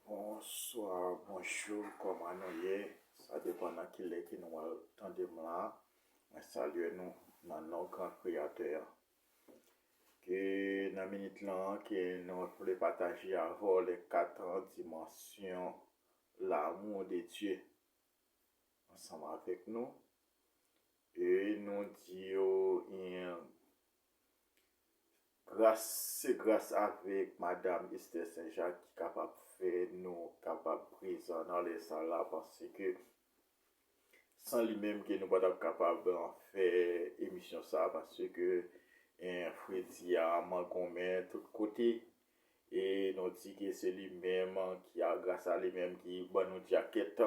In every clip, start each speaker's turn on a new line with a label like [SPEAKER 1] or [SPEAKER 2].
[SPEAKER 1] Bonswa bonjou kòman nou ye sa depan nan kilè ke nou al tande m la mwen salye nou nan non gran kreyatè a ke nan minit lan ke nou vle pataje avè w lè katan dimansyon lamou de Dye ansanm avèk nou e nou di yo yon Gras se gras avèk madam Esther St Jacques ki kapab fè nou kapab prezan nan lè sa la paske san li menm ke nou pa tap kapab fè emisyon sa paske fredi a mangonmen tout kote e nou di ke se li menm ki a gras a li menm ki ban nou djakèt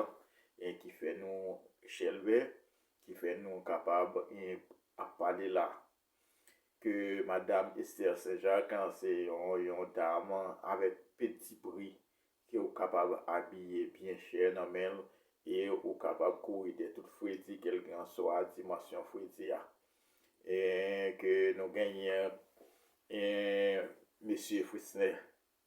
[SPEAKER 1] e ki fè nou chèlbè ki fè nou kapab ap pale la ke madam Esther St-Jacques se yon dam avèk peti pri ke ou kapab abiye byen chè nan men l e ou kapab kouri dè tout fredi kelkanswa dimansyon fredi a ke nou genyen Mesye Frisner.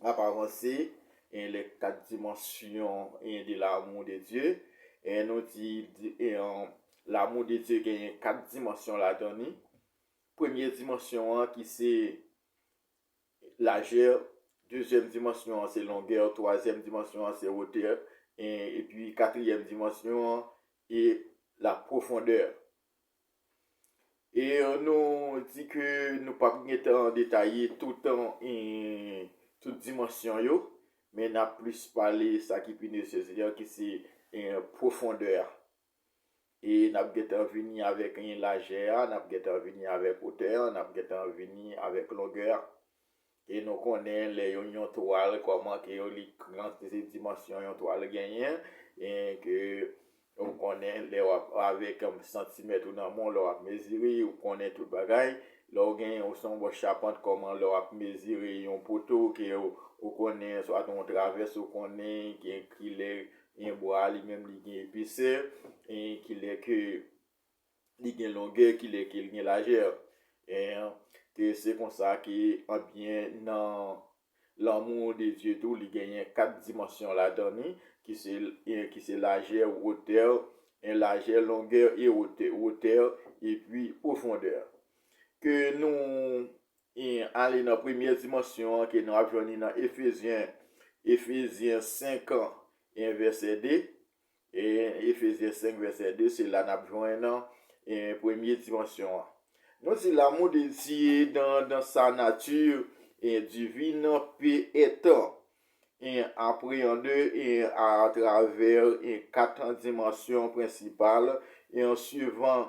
[SPEAKER 1] l ap avanse e lè kat dimansyon e de lamou de Dye e nou di e lamou de Dye genyen kat dimansyon ladan li premye dimansyon an ki se lajè dezyèm dimansyon an se longè twazyèm dimansyon an se wotè e epi katriyèm dimansyon an e la pwofondè E nou di ke nou pa p gen tan detaye tout an, tout dimansyon yo, men n ap plis pale sa ki pi nesesè an ki se pwofondè a. E n ap gen tan vini avèk lajè a, n ap gen tan vini avèk otè a, n ap gen tan vini avèk longè a. E nou konnen lè yon yon twal kòman ke yo li kantite dimansyon yon twal genyen e ke ou konnen lè wap avèk santimèt ou nan men w lè wap mezire ou konnen tout bagay lè w gen ou se yon bon chapant kòman lè wap mezire yon poto ke ou konnen swat yon travès ou konnen kilè yon bwa li menm li gen epesè e kilè ke li gen longè ki lè ke l gen lajè. Eeh ke se konsa ke anbyen nan lanmou de Dye tou li genyen 4 dimansyon ladan ni ki se en ki se lajè, wotè, en lajè, longè e wotè, wotè e pwi pwofondè. Ke nou en ale nan premyè dimansyon an ke nou ap jwenn ni nan Efezyen, Efezyen 5 an en vèsè 2, Efezyen 5 vèsè 2, se la n ap jwenn premye dimansyon an. Nou di lanmou de Dye dan sa nati divin pe èt apreyande atravè kat dimansyon prensipal, suivan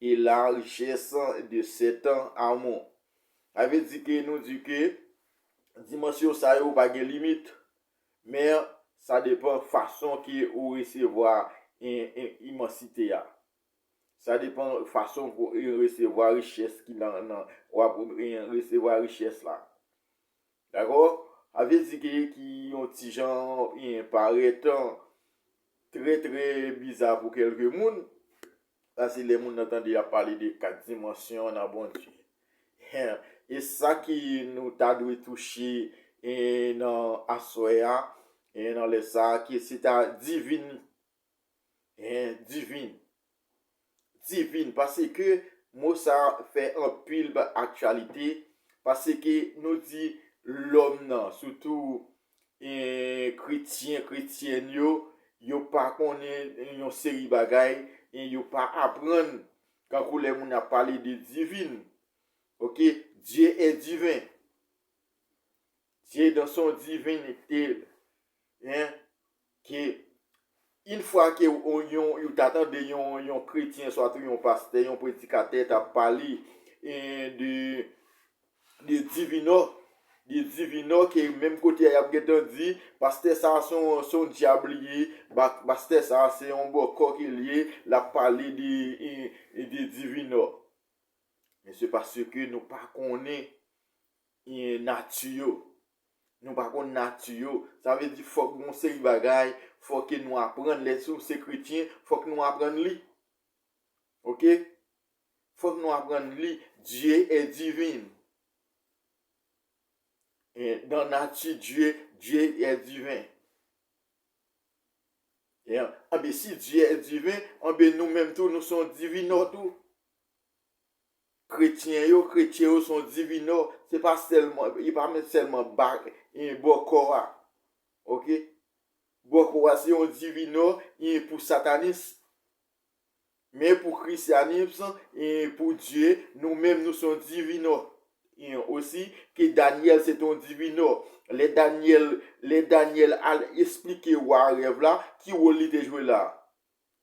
[SPEAKER 1] E larjès de setan Amon. Sa vle di ke nou di ke dimansyon sa yo pa gen limit. Men sa depan fason ke ou resevwa imansite a. Sa depan fason pou ou resevwa richès ki nan ou ap resevwa richès la. Dakò? Sa vle di ke ki yon ti jan parèt trè trè biza pou kèlke moun. Sa se lè moun nan tande y ap pale de kat dimansyon nan Bondye. E sa ki nou ta dwe touche nan aswè a, nan lè sa a, ke se ta divin. Divin. Divin. Pase ke mo sa a fè anpil aktyalite, pase ke nou di lòm nan, soutou kretyen, kretyèn yo, yo pa konnen yon seri bagay, e yo pa aprann, tankou lè moun ap pale de divin, ok, Dieu est divin, Dieu dans son divinite, Ke yn fwa ke ou ta tande yon kretyen swa tou yon pastè, yon predikatè ta pale de divinò, de divinò ke menm kote a yap gen tan di, pastè sa a son dyab li ye, pastè sa a se yon bòkò ke li ye, lap pale de divinò. Men se paske nou pa konnen nati yo. Nou pa konn nati yo. Sa vle di fòk gen yon seri bagay, fò ke nou aprann. Lè nou se kretyen, fòk nou aprann li. Ok? Fòk nou aprann li. Dye e divin. Dan nati Dye, Dye e divin. Anbe si Dye e divin, anbe nou menm tou nou son divinò tou. Kretyen yo, kretye yo son divinò, se pa sèlman, yo pa menm sèlman ba, e bòkò a. Ok? Bòkò a se yon divinò, e pou satanis. Men pou krisyanis, e pou Dye, nou menm nou son divinò. E osi, ke Danyèl se te yon divinò. Lè Danyèl, lè Danyèl al esplike wa a rèv la, ki wòl li te jwe la?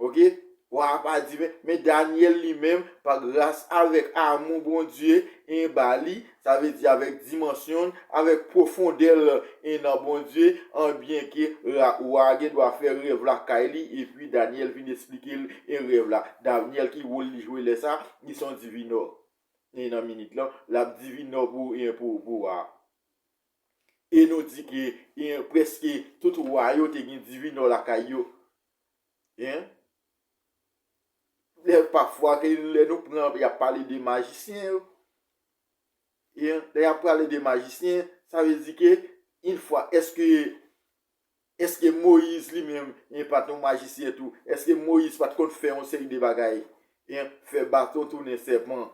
[SPEAKER 1] Ok wa a pa di men, men Daniel li menm pa gras avèk amou Bondye 1 ba li, sa vle di avèk dimansyon l, avèk pwofondè l 1 nan Bondye an byen ke ra wa a gen dwa fè rèv la kay li epi Daniel vin esplike l 1 rèv la. Daniel ki wol li jwe lè sa, li son divinò 1 nan minit lan, l ap divinò pou 1 pou wa a. E nou di ke 1 prèske tout wa yo te gen divinò lakay yo. Lè pafwa ke lè nou pran y ap pale de majisyen yo, lè y ap pale de majisyen, sa vle di ke in fwa eske, eske Moyiz li menm e pa t yon majisyen tou, eske Moyiz pa t konn fè yon seri de bagay, fè baton tounen sèpan,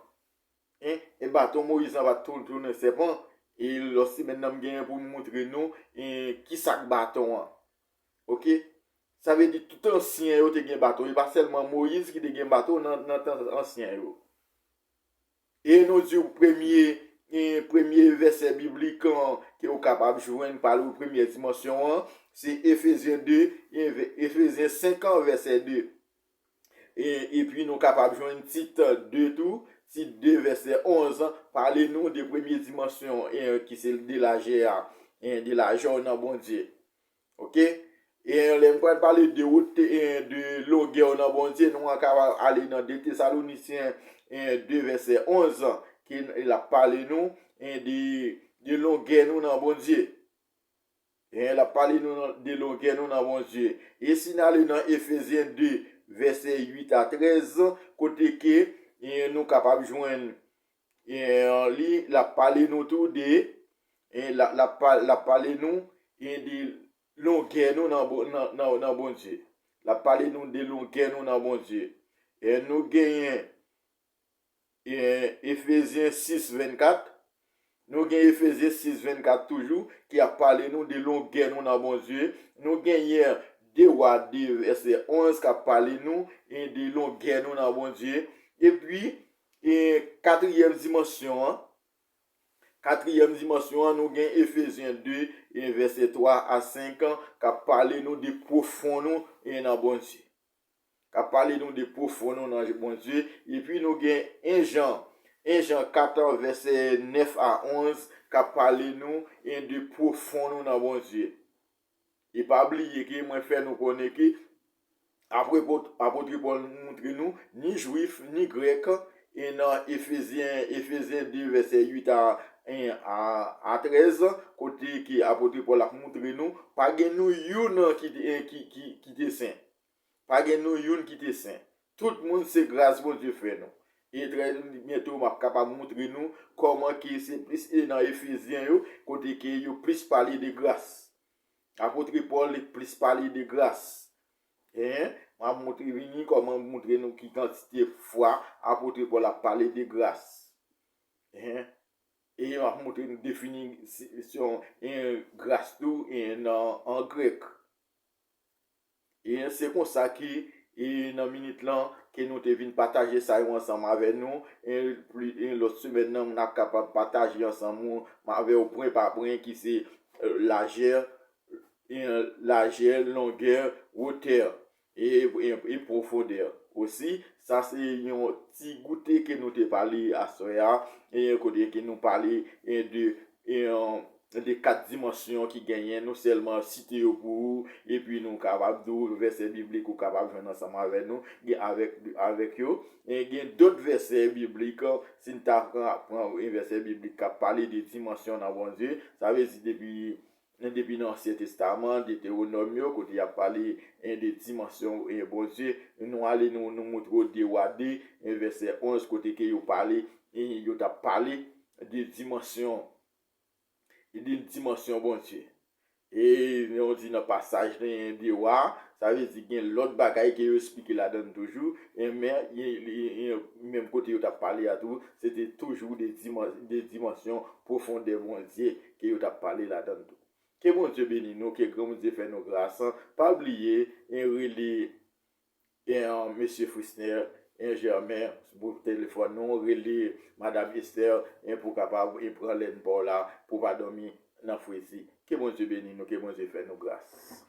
[SPEAKER 1] e baton Moyiz lan pa t tounen sèpan, e lòt semèn nan m genyen pou m moutre nou ki sa k baton an. Ok sa vle di tout ansyen yo te gen bato e pa sèlman moyiz ki te gen bato nan tan ansyen yo e nou diw premye premye vèsè biblik an ke ou kapab jwenn pale ou premye dimansyon an se efezyen 2 efezyen 5 an vèsè 2 e pi nou kapab jwenn tit 2 tou tit 2 vèsè 11 an pale nou de premye dimansyon ki se de lajè a de lajè ou nan bondye Ok e yon lè m pral pale de wot e yon de longè w nan Bondye nou an ka ale nan 2 Tesalonicien e yon 2 vèsè 11 an ke l ap pale nou e yon de longè nou nan Bondye e yon l ap pale nou de longè nou nan Bondye e si nan ale nan Efesien 2 vèsè 8 a 13 kote ke e yon nou kapab jwenn li lap pale nou tou de lap pale nou de longè nou nan Bondye lap pale nou de longè nou nan Bondye nou genyen Efesyen 6 24 nou gen Efesyen 6 24 toujou ki ap pale nou de longè nou nan Bondye nou genyen 2 wa 2 vèsè 11 kap pale nou de longè nou nan Bondye epi Gen katriyèm dimansyon an. Katriyèm dimansyon an, nou gen Efezyen 2, vèsè 3 a 5, k ap pale nou de pwofon nou nan Bondye. K ap pale nou de pwofon nou nan Bondye. Epi nou gen 1 Jan, 1 Jan 4, vèsè 9 a 11, k ap pale nou de pwofon nou nan Bondye. E pa bliye ke mwen fè nou konnen ke Apwepot Apotre Pòl moutre nou ni jwif ni grèk e nan Efezyen Efezyen 2 vèsè 8 a 1 a 13 kote ke Apotre Pòl ap moutre nou pa gen nou youn ki te sen. Pa gen nou youn ki te sen. Tout moun se gras Bondye fè nou. E trè byento map kapab moutre nou kòman ke se plis e nan Efezyen yo kote ke yo plis pale de gras. Apotre Pòl li plis pale de gras. Hein, map moutre vini kòman moutre nou ki kantite fwa apotre Pòl ap pale de gras. Hein, e map moutre nou defini si yon en gras tou en nan an grèk. E se konsa ke e nan minit lan ke nou te vin pataje sa yo ansanm avè nou e pli e lòt semèn nan m'ap kapab pataje ansanm ou avè ou pwen pa pwen ki se lajè e lajè longè wotè e e pwofondè osi sa se yon ti goute ke nou te pale aswè a e kote ke nou pale e de de 4 dimansyon ki genyen, nou sèlman site yo pou ou, epi nou kapab di ou vèsè biblik ou kapab jwenn ansanm avè nou, avèk yo. Gen dòt vèsè biblik, si n ta pran yon vèsè biblik k ap pale de dimansyon nan Bondye, sa vle di depi Men depi nan ansyen testaman, Deteronòm yo, kote yap pale de dimansyon Bondye, nou ale nou nou moutre w de Wa 2 vèsè 11 kote ke yo pale yo tap pale de dimansyon de dimansyon Bondye. E nou di nan pasaj de Wa, sa vle di gen lòt bagay ke yo esplike ladann toujou, men menm kote yo tap pale a tou, se te toujou de dimansyon pwofondè Bondye. ke yo tap pale ladann tou. Ke Bondye beni nou ke gran Bondye fè nou gras an pa bliye en rele en mesye Frisner en Germain pou telefòn nou rele madam Esther en pou kapab en pran lèn paw la pou pa dòmi nan fredi ke Bondye beni nou ke Bondye fè nou gras.